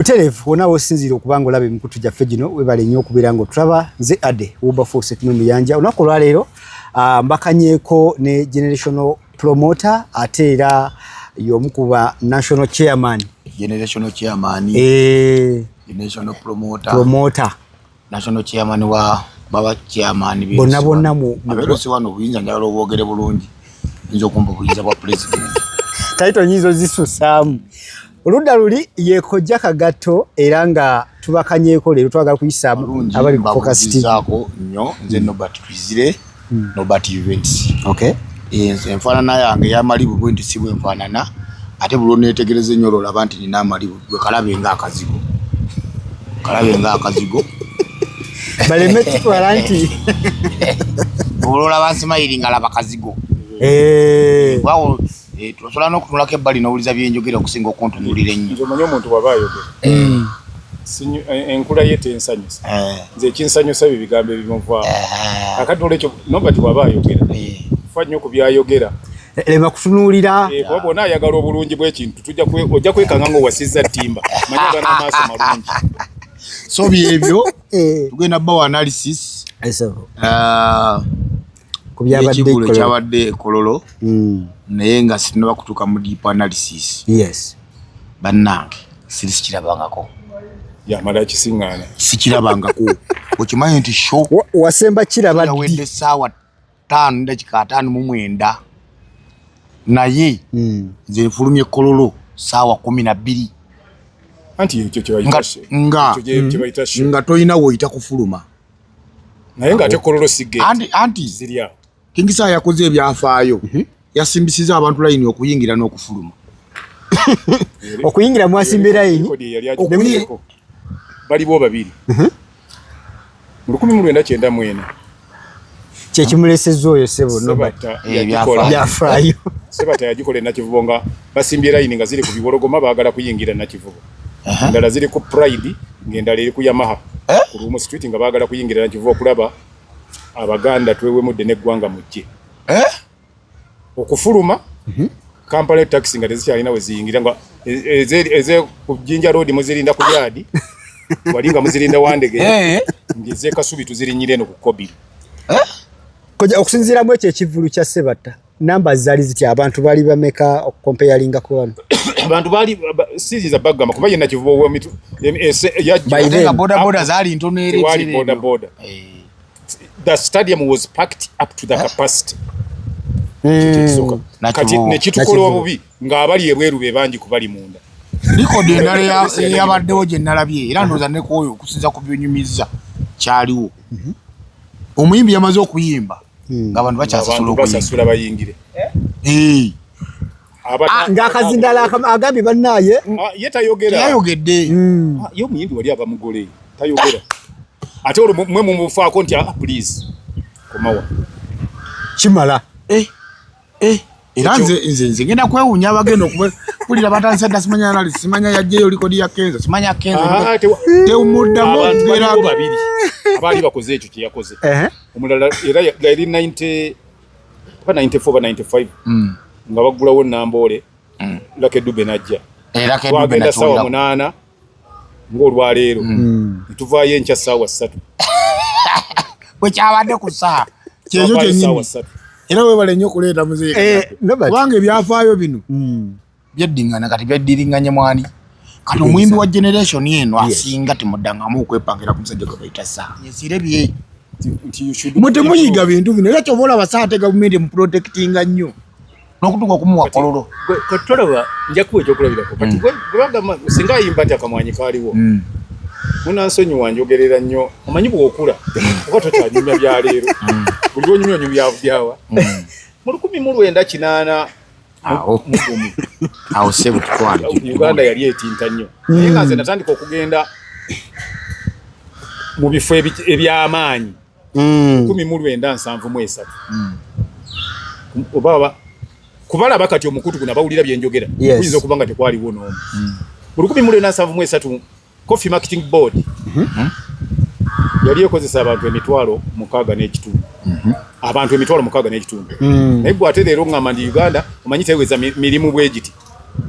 butereevu wona wosinziira okuba nga olaba emikutu gyaffe gino webale nnyo okubeera nga otulaba nze ade wilberforce ekimwe muyanja olunaku olwaleero ah, mbakanyeeko ne generational promoter ate era y'omu ku ba national chairman generational chairman eh. generational promoter promoter national chairman wa baba chairman bi bonna bonna mu abero si wano buyinza njagala obwogere bulungi nzo kumbu buyinza bwa president taito nyizo zisu sam oludda luli yekojja kagato era nga tubakanyeko lero twagala kuyisa abali ku focus tv nyo nze nobert twizire mm. Nobert Events okay. enfaanana yange yamalibu bwe nti si bwenfaanana ate buli oneetegereza ennyo olaba nti nina amalibu gwe kalabe nga akazigo kalabe nga akazigo baleme kitwala nti ololaba nsimayiri nga laba kazigo eh. Eh, tusobola n'okutunulako ebbali n'owuliza byenjogera okusinga okuntunulira ennyo nze omanyi omuntu waba ayogera mm. eh, enkula ye tensanyusa eh. nze ekinsanyusa bye bigambo ebimuvaamu akati olwekyo nobati waba ayogera fa nnyo ku byayogera lema kutunuulira kuba bona ayagala obulungi bw'ekintu ojja kwekanga nga owasizza ttimba manya gana amaaso malungi so byebyo tugenda bawa analysis ah, ekivulu ekyabadde ekololo hmm. naye nga sinaba kutuuka mu deep analysis yes bannange siri sikirabangako yamala kisiŋŋaana sikirabangako okimanyi nti sho wasemba kiraba ddi saawa ttaano dakika ataano mu mwenda naye hmm. nze nfulumye kololo saawa kumi na bbiri nga tolina woyita kufuluma naye nga ate kololo sige anti anti zilya kingisa yakoze ebyafaayo mm -hmm. yasimbisiza abantu layini okuyingira n'okufuluma okuyingira mwasimbe layini baliwo babiri mhm. mu lukumi mu lwenda kyenda mwena kyekimuleseza oyo sebo eh, byafaayo sebata yagikola enakivubo nga basimbye layini nga ziri ku biwologoma baagala kuyingira nakivubo endala ziri ku pride ng'endala eri ku yamaha eh? ku lumu street nga baagala kuyingirira nkiva okulaba abaganda twewemudde n'eggwanga mujje eh? okufuluma mhm. kampala taxi nga tezikyalina we ziyingira nga e, e, eze ku jinja road muzirinda ku yaadi wali nga muzirinda wandege eh? ng'ezekasubi tuzirinyira eno ku kobiri okusinziira mu ekyo ekivulu kya sebatta namba zali ziti abantu bali bameka okukompeyalinga ku wano abantu bali siri za bagamba kuba yena kivubo wa mitu yajenga boda boda zali ntono eri wali boda boda eh. the stadium was packed up to the eh. capacity hmm. kati nekitukolo obubi nga abali ebweru be bangi kubali munda likodi endala eyabaddewo gye nalabye era ndooza nekwoyo okusinza ku byonyumizza kyaliwo mhm. omuyimbi yamaze okuyimba hmm. nga abantu bakyasasula okuyingira bayingire eh. ah, ngakazindala agambye banaye ah, ye tayogera yayogedde hmm. ah, ye omuyimbi wali ava mugole tayogera ate olwo mwe mumufaako nti please komawa kimala eh. eh era nze nze nze ngenda kwewunya abagenda okubulira batandise dda simanya nali simanya yajjeyo likodi ya kenzo simanya kenzo ah, tewumuddamu okubeera babiri abaali bakoze ekyo kye yakoze omulala era yali 90 ba 94 ba 95 mm. nga baggulawo namboole mm. lake dube najja era ke dube najja sawa munana ng'olwaleero mm. netuvaayo enkya saawa ssatu bwekyabadde ku saa kyekyo kyenyini era webale nnyo okuleeta muzeeyi eh, kubanga ebyafaayo bino mm. byeddingana kati byeddiringanye mwani kati omuyimbi wa generation eno asinga timudangamu okwepangira ku musajja gwe bayita saa yesire bye mwe temuyiga bintu bino era kyoba olaba saa te gavumenti emuprotectinga nnyo nokutuka okumuwa kololo katolaba njakuwa ekyokulabirako kati hmm. gwebagamba singa ayimba nti akamwanyi kaliwo hmm. munansonyi wanjogerera nnyo omanyi bwokula oba tokyanyumya byaleero hmm. buli lwonyumya onyumya byawa mu lukumi mu lwenda kinaana awo sebo tukwali uganda yali etinta nnyo naye nga nze natandika okugenda mu bifo eby'amaanyi mm. kumi mu lwenda nsanvu mu esatu mm. oba kubalaba kati omukutu guno abawulira byenjogera kuyinza okuba nga tekwaliwo n'omu mm. mu lukumi mu lwenda nsanvu mu esatu coffee marketing board mm-hmm. yali ekozesa abantu emitwalo mukaaga n'ekitundu mm-hmm. abantu emitwalo mukaaga n'ekitundu mm. naye gwe ate leero ngamba ndi uganda omanyi teweza mirimu bwegiti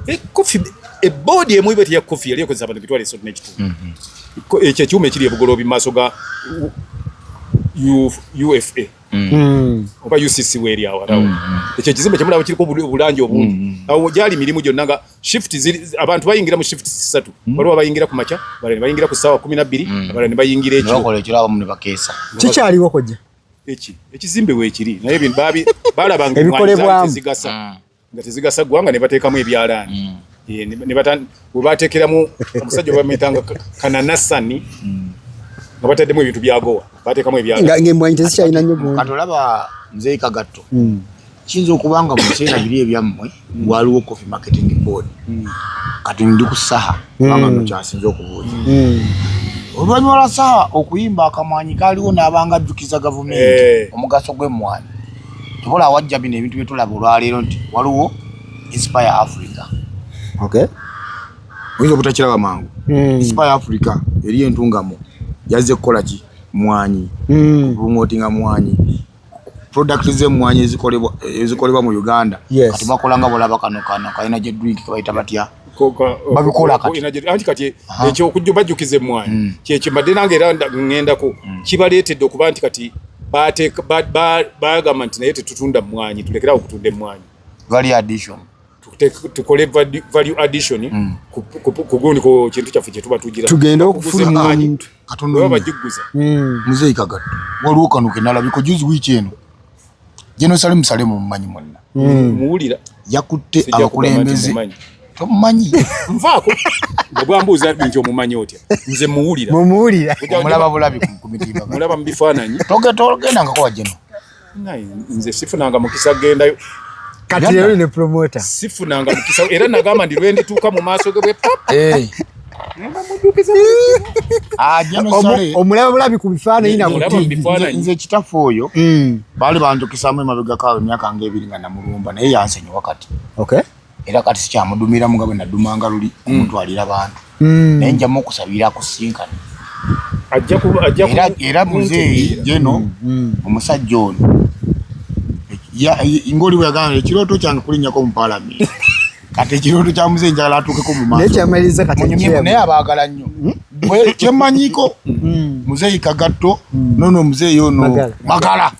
Ekofi ebodi emu ibe teyakofi yali ekozesa abantu bitwale sote n'ekitundu mhm. ekyo ekyuma ekiri ebugoloobi mu maaso ga UFA mm. oba UCC weeri awo arawo mm. ekyo ekizimbe kyemulaba kiriko obulangi obungi mm. awo gyali mirimu gyonna nga shift abantu bayingira mu shift sisatu waliwo abayingira ku makya abalala nebayingira ku ssaawa kumi nabbiri abalala nebayingira ekyokikyaliwo kojja eki ekizimbe weekiri naye balabanga ebikolebwamu nga tezigasa ggwanga ne bateekamu ebyalaani mm. we bateekeramu omusajja obamuyitanga kananasani mm. nga bataddemu ebintu byagowa bateekamu ebyalaaniemwanyi tezikyalina nyo katolaba mzeyi kagatto mm. kiyinza okuba nga mubiseera biri ebyammwe waliwo coffee marketing board kati ndi ku saha kubanga nokyasinza okubuuza oluvannyuma lwa saha okuyimba akamwanyi kaaliwo n'abanga ajjukiza gavumenti eh. omugaso gw'emmwanyi tukola awajja bino ebintu byetulaba olwaleero nti waliwo inspire africa okay oyinza obutakiraba mangu hmm. inspire africa eri entungamo yazze kukola ki mwanyi hmm. promotinga mwanyi product zemwanyi ezikolebwa mu uganda kati bakolanga bolaba kano kano kalina gye drink kebayita batya babikola kati kati ekyokujja bajjukiza emmwanyi mm. kyekyo mbadde nange era ŋŋendako mm. kibaleetedde okuba nti kati bagamba nti naye tetutunda mmwanyi tulekerawo okutunda emmwanyi tukole value addition mm. kugundiko kintu kyaffe kyetuba tugira tugende okufulumanyibajiguza muzeeyi kagatto waliwo kano kenalabiko juzi wiiki eno Jeno Salimu Salimu mmanyi mwenna hmm. muwulira yakutte abakulembeze tomumanyi nvaako bwambuuza nti omumanyi otya nze muwulira mumuwulira omulaba bulabi ku mitimba mulaba mu bifaananyi togendangako wa Jeno nze sifunanga mukisa gendayo kati leero ne promota sifunanga mukisa era nagamba ndi lwendituuka mu maaso ge bwe papa eh. Ah, omulaba bulabi ku bifaananyi nabnze ekitaffe oyo hmm. baali banjukisaamu emabegako awo emyaka nga ebiri nga namulumba naye yansonyiwa kati era kati sikyamudumiramu nga bwe nadumanga luli hmm. omutwalira bantu hmm. naye njamu okusabira kusinkana era muzeeyi jeno omusajja ono ngoli bwe yagamba ekirooto kyange kulinnyako mu palamenti kati ekirooto kya muzeeyi njagala atuukeko mu maasonayekyamaliza katinaye abaagala nnyo hmm? bwe kyemmanyiko hmm. muzeeyi kagatto hmm. nono muzeeyi ono magala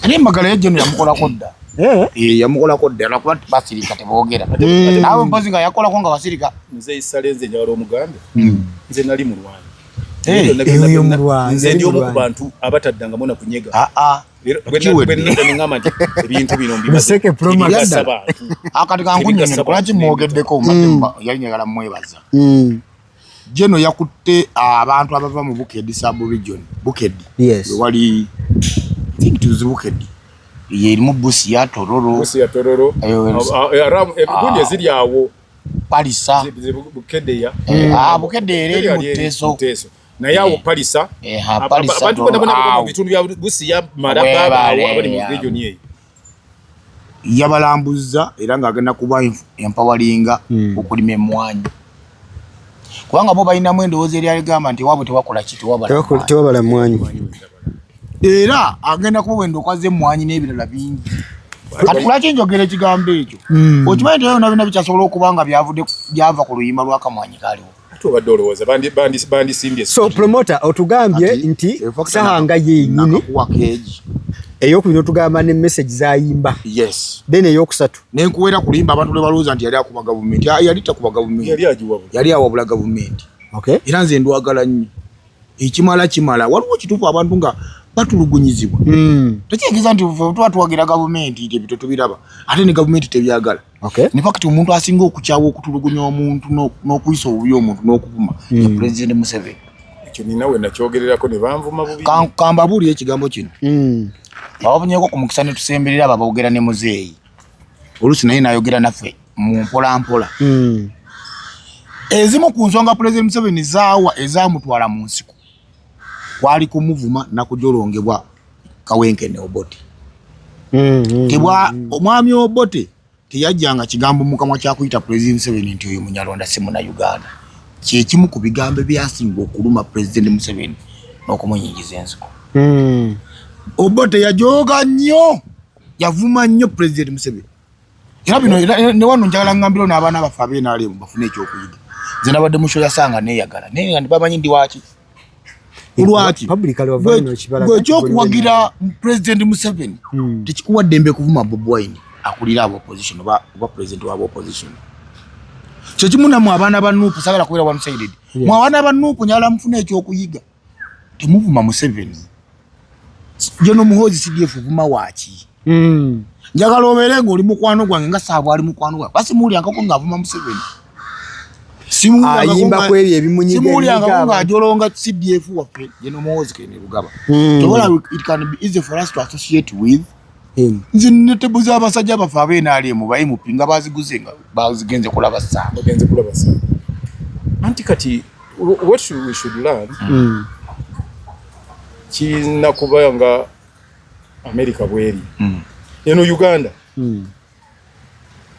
naye magala yajja no yamukolako dda eh? Eh, yamukolako dda nakuba basirika teboogera naawe mpozi nga yakolako nga basirika muzeeyi sale nze njagala omugambe nze nali mulwanyi eh, nze ndi omu ku bantu abataddangamu na kunyega ah, ah. akati kankunyonyo lwaki mwogeddeko mm. yali njagala mwebaza mm. jeno yakutte ah, abantu abava mu bukedi subregion bukedi wewali thinktz bukedi yerimu busi ya tororo ziri awo palisa bukedeya eh, ah, bukedeya era eri mu teeso naye awo eh, palisa eh, abantu bona bona baba mu bitundu bya busi ya maraba abali mu region eyo yabalambuzza era nga agenda kuba empawalinga hmm. okulima emwanyi kubanga bo balinamu endowooza eri aligamba nti ewaabwe tewakola ki tewabala mwanyi era agenda kuba wenda okwaza emwanyi n'ebirala bingi kati lwaki njogera ekigambo ekyo hmm. okimanyi teyo nabina bikyasobola okuba nga byava ku luyimba lwakamwanyi kaliwo ate obadde olowooza bandisimbye so promoter otugambye nti sahanga yenyini eyokubiri otugamba ne message zayimba yes then eyokusatu nenkuwera kulimba abantu lebalowooza nti yali akuba gavumenti yali takuba gavumenti yali awabula gavumenti okay era nze ndwagala nnyo ekimala kimala waliwo kituufu abantu nga batulugunyizibwa hmm. tekyegeza nti tuba tuwagira gavumenti nti ebito tubiraba ate ne gavumenti tebyagala ne fakiti omuntu asinga okukyawa okutulugunya omuntu n'okuyisa obubi omuntu n'okuvuma hmm. pulezidenti museveni ekyo nina we nakyogererako ne banvuma bubi kambabuulira ekigambo kino hmm. ababunyeko ku mukisa ne tusemberera abo aboogera ne muzeeyi oluusi naye nayogera naffe mu mpolampola hmm. ezimu ku nsonga pulezidenti museveni zaawa ezamutwala mu nsiko kwali kumuvuma nakujolongebwa kawenkene obote hmm, hmm, tebwa omwami obote teyajjanga kigambo mukamwa kyakuyita pulezidenti museveni nti oyo munyarwanda si muna uganda kyekimu ku bigambo ebyasinga okuluma pulezidenti museveni n'okumunyingiza ensiko obote yajooga nnyo yavuma nnyo pulezidenti Museveni era bino ne wano njagala ngambiro n'abaana baffe ab'enaalimu bafune ekyokuyiga nze nabadde musho yasanga neeyagala naye nga bamanyi ndi waaki olwaki ekyokuwagira pulezidenti Museveni hmm. tekikuwa ddembe kuvuma Bobi Wine akulira aba opposition oba pulezidenti waba opposition kyekimu namwe abaana ba nuupu sagala kubeera one sided mwe abaana ba nuupu njagala mufune ekyokuyiga temuvuma museveni jono muhozi cdf vuma waki mm. njagala obeere nga oli mukwano gwange nga saabwe ali mukwano gwange basimuwulyangako nga avuma museveni ayimba kwebyo ebimunyigamulyangako nga ajolonga cdf waffe jono muhozi kene lugaba mm. tobola it can be easy for us to associate with nzino tebuza abasajja baffe abenaali mu bayi mupi nga baziguze nga bazigenze kulaba saa bagenze kulaba saa anti kati what should we should learn mm. kiyina kuba nga america bweri mm. eno uganda mm.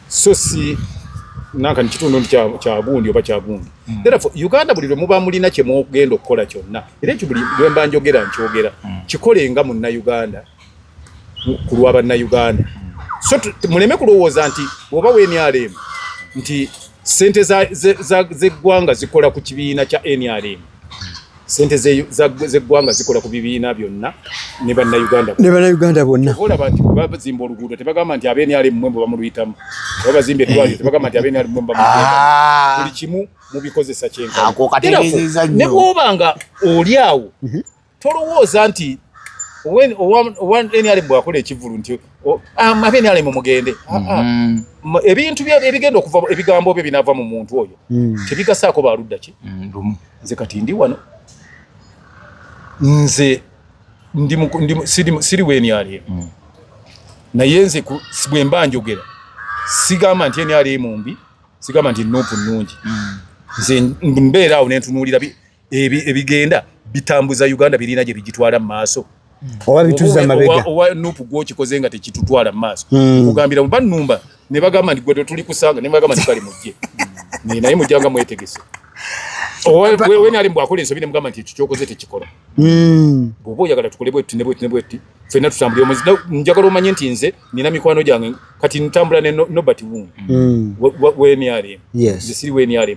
so si nanka ni kitundu nti kya gundi oba kya gundi mm. therefore uganda buli lwe muba mulina kye mugenda okukola kyonna era ekyo buli lwe mba njogera nkyogera mm. kikole nga munna uganda ku lwa banna uganda so muleme kulowooza nti oba wenrm nti sente zeggwanga zikola ku kibiina kya nrm sente zeggwanga zikola ku bibiina byonna ne bannayuganda ne bannayuganda bonna olaba nti babazimba oluguudo tebagamba nti abenr mmwe mbu bamuluyitamu babazimba eddwaliro tebagamba nti abenr mmwe ah. buli kimu mubikozesa kyenkane bwoba nga oli awo mhm. tolowooza nti nr bwakola ekivulu nti abenalemu ah, mugende ah, ah. mm-hmm. ebintu ebigenda okuva ebigambo bye binava mu muntu oyo mm. tebigasaako baludda ki mm, nze kati ndi wano nze siri wenyalie mm. naye nze bwemba njogera sigamba nti enyalie mumbi sigamba nti nupu nungi nze mbeera awo nentunuulira ebigenda bitambuza Uganda birina gye bigitwala mu maaso hmm. oba bituza mabega owa nup gwokikoze nga tekitutwala mu maaso hmm. kugambira oba numba ne bagamba nti gwe tuli kusanga ne bagamba nti kale mujje hmm. naye mujjanga mwetegese wena ali mbwakola ensobi ne mugamba nti ekyo kyokoze tekikola bwoba oyagala tukole bwetti ne bwetti ne bwetti fenna tutambulire omwezi njagala omanye nti nze nina mikwano gyange kati ntambula ne nobert wungu wenrm nze siri wenrm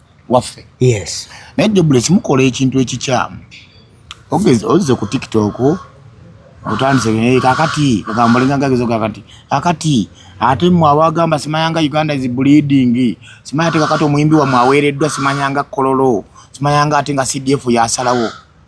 waffe yes naye jobule kimukola ekintu ekikyamu ogeze ozize ku tiktok otandise naye kakati kagamba linga gagezo kakati kakati ate mwe abagamba simayanga uganda is bleeding simanya ate kakati omuyimbi wa mwaweereddwa simanyanga kololo simayanga ate nga cdf yasalawo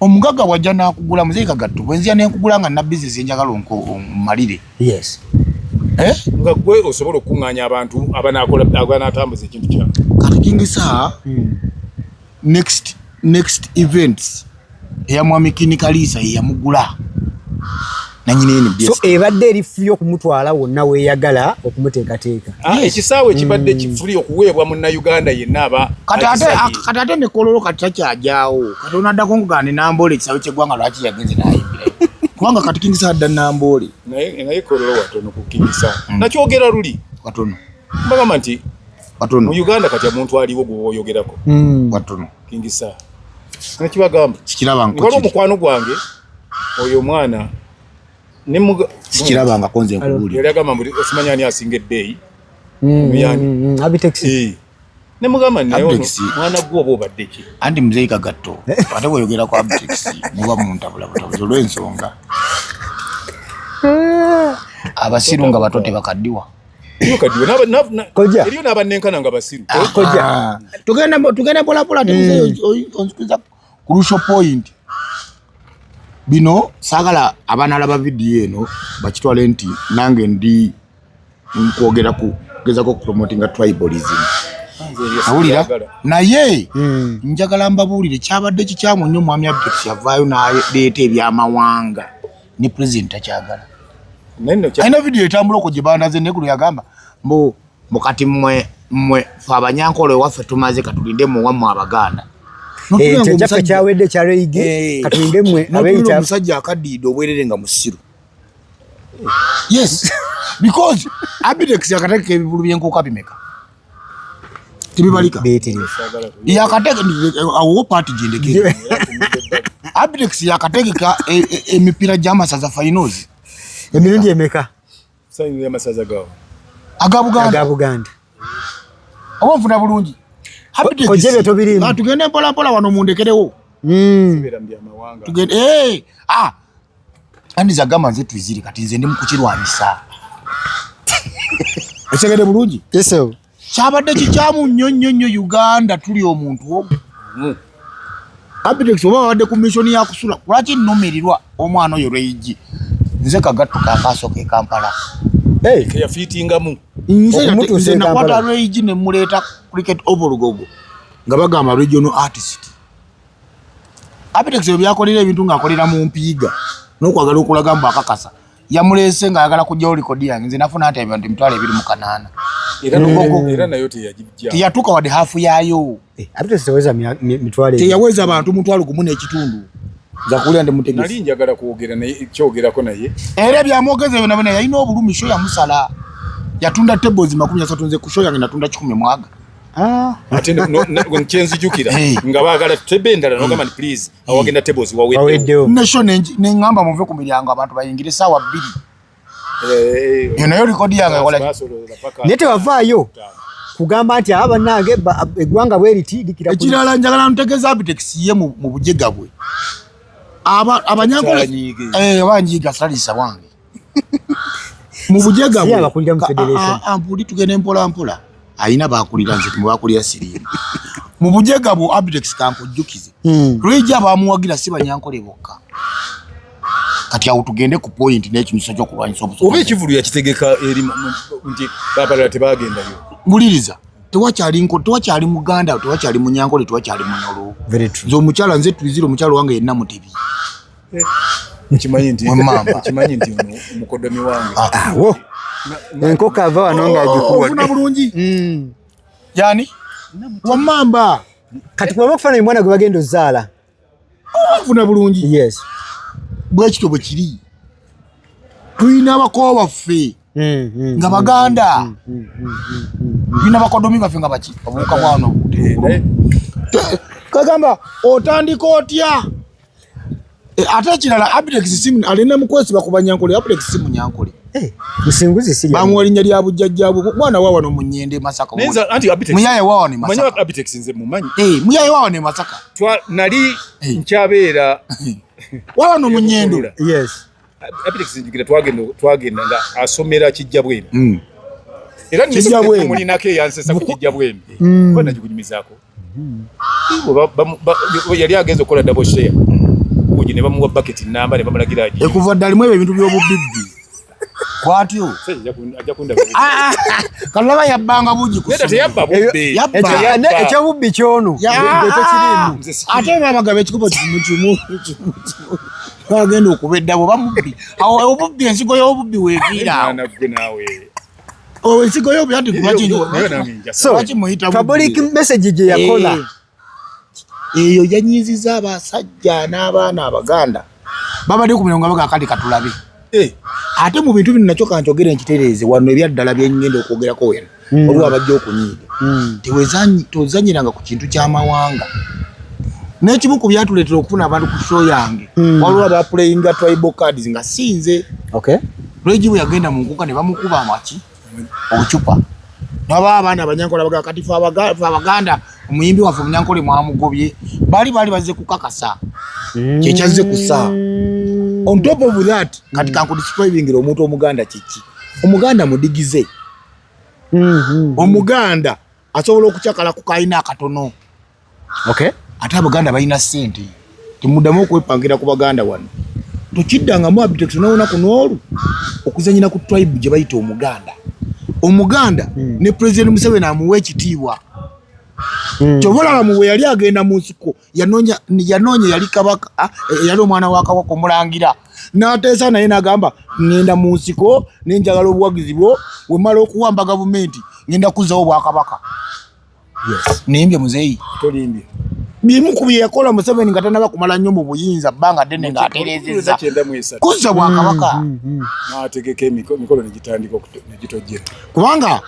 omugaga wajja nakugula muzei kagatto bwenzija nenkugula nga nabizi zinjagala onkumalire yes eh? nga gwe osobola okukunganya abantu abanatambuza ekintu kya kati kingisa hmm. next next events eya mwami kinikaliisa yeyamugula ah. so ebadde eri fuli okumutwala wonna weyagala okumuteekateeka ah, ekisaawe ekibadde mm. kifuli okuweebwa munnauganda yenna aba kati ate nekololo kati takyajawo kati onaddako nkugande namboole ekisaawe kyeggwanga lwaki yagenze nayimbira kubanga kati kingisa adda namboole naye kololo watono ku kingisa mm. nakyogera luli watono mbagamba nti watono mu uganda kati omuntu aliwo gwoyogerako mm. watono kingisa nakibagamba kikiraba nkwaliwo mukwano gwange oyo omwana sikirabangako nze nkubuuliyali agamba mbu osimanya ani asinga eddeeyi mm, mm, mm, nemugamba mwana gwe oba obadde ki anti muzeeyi kagatto ate weyogera ku abtex muba muntabula butabuzi olw'ensonga abasiru nga bato tebakaddiwa eriyo n'abannenkana nga basiru ah, tugenda mpolampola nti muzeeyi onzikiriza crucial point bino sagala abana laba video eno bakitwale nti nange ndi nkwogera ku gezako promoting a tribalism awulira naye hmm. njagala mbabuulire kyabadde kikyamu nnyo omwami abdix yavaayo naleeta ebyamawanga ne president takyagala alina vidiyo etambula okwo gye baanaze naye guno yagamba mbu Mukati mwe mwe fe abanyankole ewaffe tumaze katulinde mu wamwe abaganda eh, kyaffe kyawedde kyareyigi eh. katulinde mwe abeyita omusajja akaddiide obwerere nga musiru yes because abitex yakateeka ebivulu byenkuuka bimeka tebibalika yakateeka awo paati gyendekere abitex yakategeka e, e, emipiira gy'amasaza finals emirundi emeka Sayinga amasaza gawo. Aga Buganda. Aga Buganda. Obo mfuna bulungi. Happy Ko jebe to biri. Ba tugende mpola mpola wano mundekerewo. Mm. Sibera mbya mawanga. Tugende eh ah. Ani za gama zetu ziri kati nze ndi mukukirwabisa. Osegede bulungi. Yes sir. kyabadde kikyamu nnyo nnyo nnyo uganda tuli omuntu omu hmm. abitex oba wabadde ku misioni yakusula lwaki nnumirirwa omwana oyo lweyigi nze kagatto kakaaso ke kampala keyafiitingamu nze nakwata lweyigi ne muleeta cricket ovolgogo nga bagamba regional artist abitex ebyo byakolera ebintu ng'akolera mu mpiiga n'okwagala okulaga mbu akakasa yamuleese nga ayagala kujjawo likodi yange nze nafuna nti ebintu emitwalo ebiri mu kanaana teyatuuka wadde hafu yaayo eh, teyaweza abantu mutwalo gumu n'ekitundu nzakuwulira ndi mutegesi njagala kwogera naye kyogerako naye era byamwogeza byona byona yalina obulumi sho yamusala yatunda tables makumi asatu nze ku sho yange natunda kikumi mwaga ah. ate kyenzijukira eh. nga baagala tebe endala nogamba nti please awagenda tables waweddewo nasho nengamba muve ku miryango abantu bayingire sawa bbiri eh, eh, nayo likodi yange kola naye tewavaayo kugamba nti aba banange eggwanga bwe liti likira ekirala njagala ntegeeza abitex ye mu bujega bwe abanyankole eh, banyiiga salisa wange mu bujaga abakulira mu federation ampuli tugende mpola mpola ayina bakulira nze mu bakulira sirimu mu bujaga bwo abdex kankujjukize hmm. lweja bamuwagira si banyankole bokka kati awo tugende ku point n'ekinyuso ky'okulwanyisa obusobozi oba ekivulu yakitegeka eri nti babalala tebagendayo wuliriza tewakyali nko tewakyali muganda tewakyali munyankole tewakyali munolo nze omukyala nze tuzire omukyala wange yenna mutebi Kimanyi nti mama, kimanyi nti mukodomi wange. Ah, ah wo. Enkoko ava wano nga ajikuwa. Oh, Ofuna bulungi. Mm. Yani? Wa mamba. Kati kwa wakufana ni mwana gwe bagenda ozala. Ofuna oh, bulungi. Yes. Bwekito bwe kiri. Tuina bakowa baffe. Mm, mm, mm, nga baganda bina bakodomi baffe nga baki obuuka bwano eh, eh. kagamba otandika otya Eh, ate ekirala Abdex simu alina mukwesiba ku banyankole Abdex simu nyankole eh, musinguzi si bamuwa linnya lya bujjajjabwe mwana wa wano mu nnyende e masaka muyaye wa wano e eh, muyaye wa wano e masaka nali nkyabeera wa wano mu nnyendo twagenda nga asomera kijja bwemi mm. era mulinako eyansesa ku kijja bwemi mm. banagikunyumizaako mm-hmm. yali agenza okukola dabo share uji ne bamuwa baketi namba ne bamulagira aji ekuva ddali mu ebyo ebintu by'obubibbi kwatyo kalaba yabbanga bugi ekyobubbi kyono ate babagaba ekikubo kimu kimu agenda okuba eddabo bamubbi awo obubbi ensigo y'obubbi weviira awo ensigo y'obubbi anti lwaki muyita public message gye yakola eh. eyo yanyiziza abasajja n'abaana abaganda babadde ku mirongo abaga akali katulabe eh. ate mu bintu bino nakyo kankyogere nkitereeze wano ebyaddala byenyenda okwogerako wena mm. oba wabajja okunyiiga mm. tewezanyiranga ku kintu kyamawanga n'ekimu ku byatuleetera okufuna abantu ku show yange mm. waliwo abaplayinga tribal cards nga sinze okay. lwegibu yagenda mu nkuka ne bamukuba amaki ocupa naba abaana abanyankola baga kati fe abaganda omuyimbi waffe omunyankola mwamugobye bali bali bazze kukakasa mm. kyekyazze kusa on top of that kati kankudiscribingira omuntu omuganda kiki omuganda mudigize mm-hmm. omuganda asobola okucakala ku kalina akatono ate abaganda balina sente temuddamu okwepangira ku baganda wano tokiddangamu abitekitonawunaku noolu okuzanyira ku tribe gye bayita omuganda omuganda hmm. ne president museveni amuwa ekitiibwa hmm. kyoba olaba mu bwe yali agenda mu nsiko yanonya yanonya yali kabaka ah, eh, yali omwana wa kabaka omulangira n'ateesa naye n'agamba ŋŋenda mu nsiko ne njagala obuwagizi bwo we mala okuwamba gavumenti ŋŋenda kuzzawo obwakabaka nimbye muzeeyi tolimbye bimu ku bye yakola museveni nga tanaba kumala nnyo mu buyinza bbanga ddene ng'atereezezza kuzza bwakabaka mm, mm, mm. n'ategeka emikolo ne gitandika okugitojjera kubanga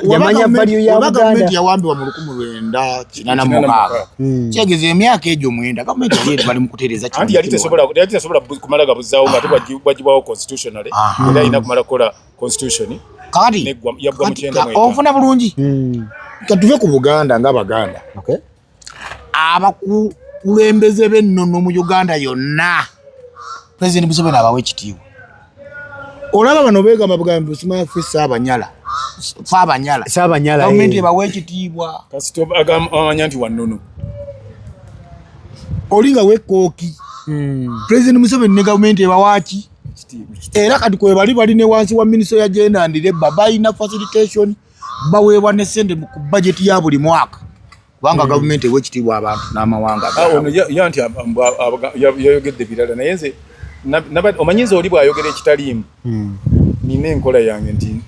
yamanya value ya Buganda. Gavumenti yawambibwa mu lukumi lwenda kinana mu mukaaga hmm. kyegeza emyaka egyo mwenda gavumenti yali eri bali mu kutereeza kino. Anti yali tesobola yali tesobola kumala gabuzaawo nga tebagibwawo constitutionally era alina kumala kukola constitution kati yaggwa mu kyenda mwenda. Onfuna bulungi hmm. katuve ku Buganda nga Baganda. Okay. abakulembeze b'ennono mu uganda yonna pulezidenti museveni abawa ekitiibwa olaba bano begamba bugambi busimafe saabanyala faabanyala saabanyala gavumenti eh. ebawa ekitiibwa kasitobamanya nti wannono oli nga wekooki hmm. pulezidenti museveni ne gavumenti ebawaaki era kati kwebali bali ne wansi wa minisitule ya jenda ndireba balina facilitation baweebwa ne sente ku bajeti ya buli mwaka kubanga hmm. gavumenti ewa ekitiibwa abantu n'amawanga ah, ono ya nti yayogedde birala naye nze omanyi nze oli bw'ayogera ekitaliimu hmm. nina enkola yange nti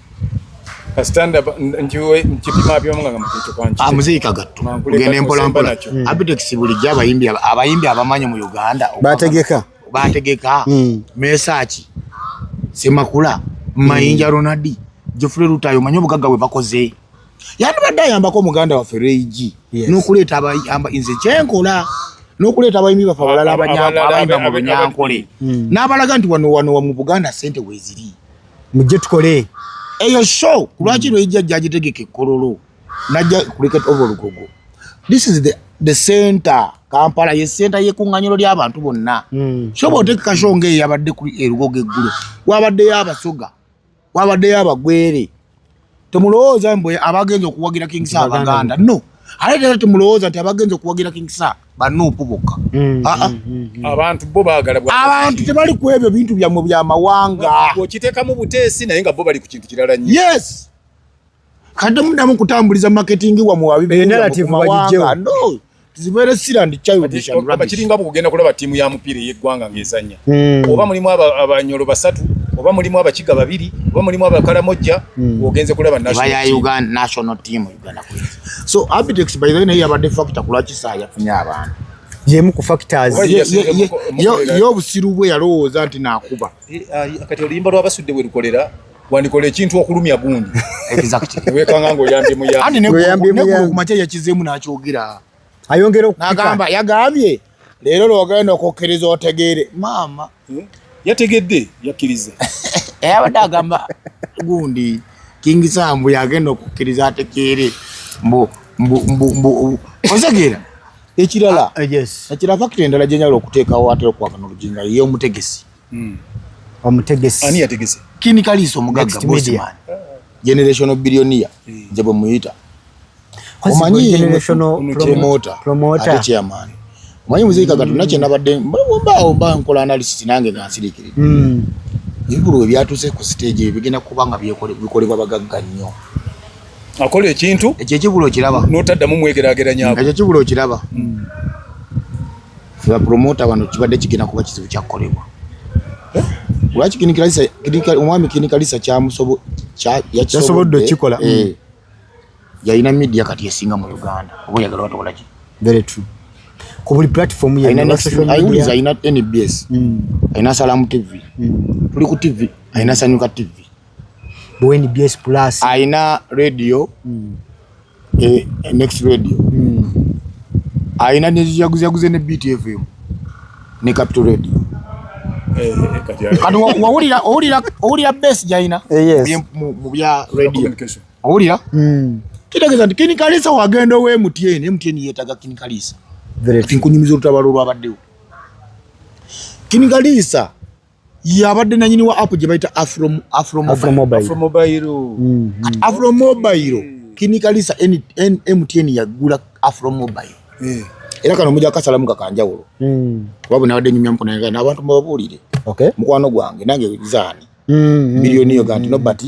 amuziikagatugende ah, mpolampola hmm. abitex bulijjo abayimbi abamanyi mu uganda bategeka bategeka mm. mesaki semakula mm. mayinja ronaldi jofule lutayo manye obugaga bwe bakoze yandibadde ayambako omuganda waffe reig yes. nokuleeta abayamba nze kyenkola nokuleeta abayimbi bafe abalala abayimba mu bunyankole mm. n'abalaga nti wano wano mu buganda sente weziri mujje tukole eyo show kulwaki mm. reig ajja agitegeka ekkololo najja kuliketa oba olugogo this is the, the center kampala ye center yekuŋŋanyiro ly'abantu bonna hmm. kyoba otekeka sho nga eyabadde ku erugogo eggulo wabaddeyo abasoga wabaddeyo abagwere temulowooza mbu abagenza okuwagira king sa abaganda no ate tera temulowooza nti abagenza okuwagira king sa banuupu bokka hmm, ah, ah. Hmm, abantu bo bagala abantu tebali ku ebyo bintu byammwe byamawanga okiteekamu buteesi naye nga bo bali ku kintu kirala nyo yes Kade mudamu kutambuliza marketing wa mwabi. Eyo narrative bajijewa. No. It's very serious and childish and rubbish. Bachiringa bu kugenda kulaba timu ya mupira ye gwanga ngezanya. Mm. Oba mulimu aba abanyolo basatu, oba mulimu abakiga babiri, oba mulimu abakala moja, mm. ogenze kulaba national Vaya team. Uganda national team Uganda kule. So Abitex by the way ya bade factor kulachi saa ya funya abantu. yemu ku factors yo busiru bwe yalowooza nti nakuba eh, ah, kati oluyimba lwabasudde werukolera wandikola ekintu okulumya gundi wekanga ngaoyambye muyakumakya yakizemu nakyogera ayongera nagamba yagambye leero lwogenda okukkiriza otegeere maama hmm? yategedde yakkiriza eyabadde agamba gundi kingisambu yagenda okukkiriza ategeere mbu otegeera ekirala ah, ekirala fakiti endala gyenyala okuteekawo atera okukwagana oluginga yeomutegesi mm. omutegesi ani yategese kini kalisa omugagga bossman generational billionaire mm. nze bwe muyita omanyi promoter promoter ate chairman omanyi muziki kaka tuna kye nabadde mbaawo mba nkola analysis nange nga nsirikirira mm. ebikulu we byatuuse ku stage ebigenda kuba nga bikolebwa bagagga nnyo akola ekintu ekyo ekibula okiraba notaddamu mwekerageranyako ekyo ekibula okiraba mm. fe bapromota wano kibadde kigenda kuba kizibu kyakukolebwa eh? lwaki omwami kinikalisa yasobodde okikola eh. mm. yalina media kati esinga mu uganda oba oyagala batowolaki very true ku buli platform yewuliza alina nbs mm. alina salamu tv mm. tuli ku tv alina sanyuka tv bnbs plus alina radio mm. eh, eh next radio mm. aina ne jaguzi jaguzi ne BTFM ne Capital Radio eh, eh, kati wawulira owulira owulira base jaina eh, mu bya radio owulira mm. kitegeeza nti kinikalisa wagenda owe mtn mtn yetaga kinikalisa nkunyumiza olutabalo olwabaddewo kinikalisa yabadde nanyini wa app gye bayita afromobairo afromobairo kinikalisa mtn yagula afromobairo eh. era kano muja kasalamu kakanjawulo hmm. kuba bwe nabadde nyumya mukona nga n'abantu mubabuulire mukwano gwange nange zaani hmm, miliyoni hmm, yo ganti no but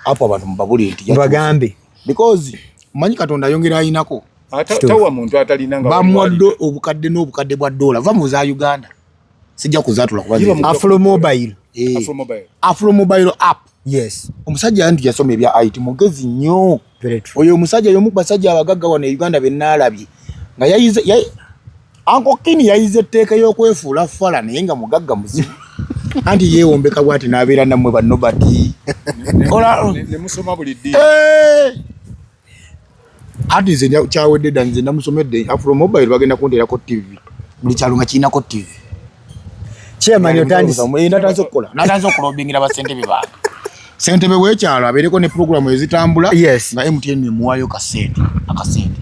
apo abantu mubabulire nti bagambe because manyi katonda ayongera ayinako tawa muntu atalina nga bamwadde obukadde n'obukadde bwa dola va mu za uganda sijja kuzatula kuba afro mobile eh. afro mobile afro mobile app yes omusajja yanti yasoma ebya IT mugezi nnyo oyo omusajja yomu basajja abagagga wano e Uganda be nalabye nga yayize ya anko kini yayize etteeka y'okwefuula fala naye nga mugagga muzibu anti yewombeka bwati nabeera nammwe banobati ola ne musoma buli ddi eh! Hadi nze kyawedde dda nze namusomedde afro mobile bagenda kunterako tv buli kyalo nga kirinako tv kyemani otandise eh, natanze okukola natanze okulobingira basentebe bange sentebe wekyalo abeereko ne puroguramu ezitambula nga mtn emuwayo kasente akasente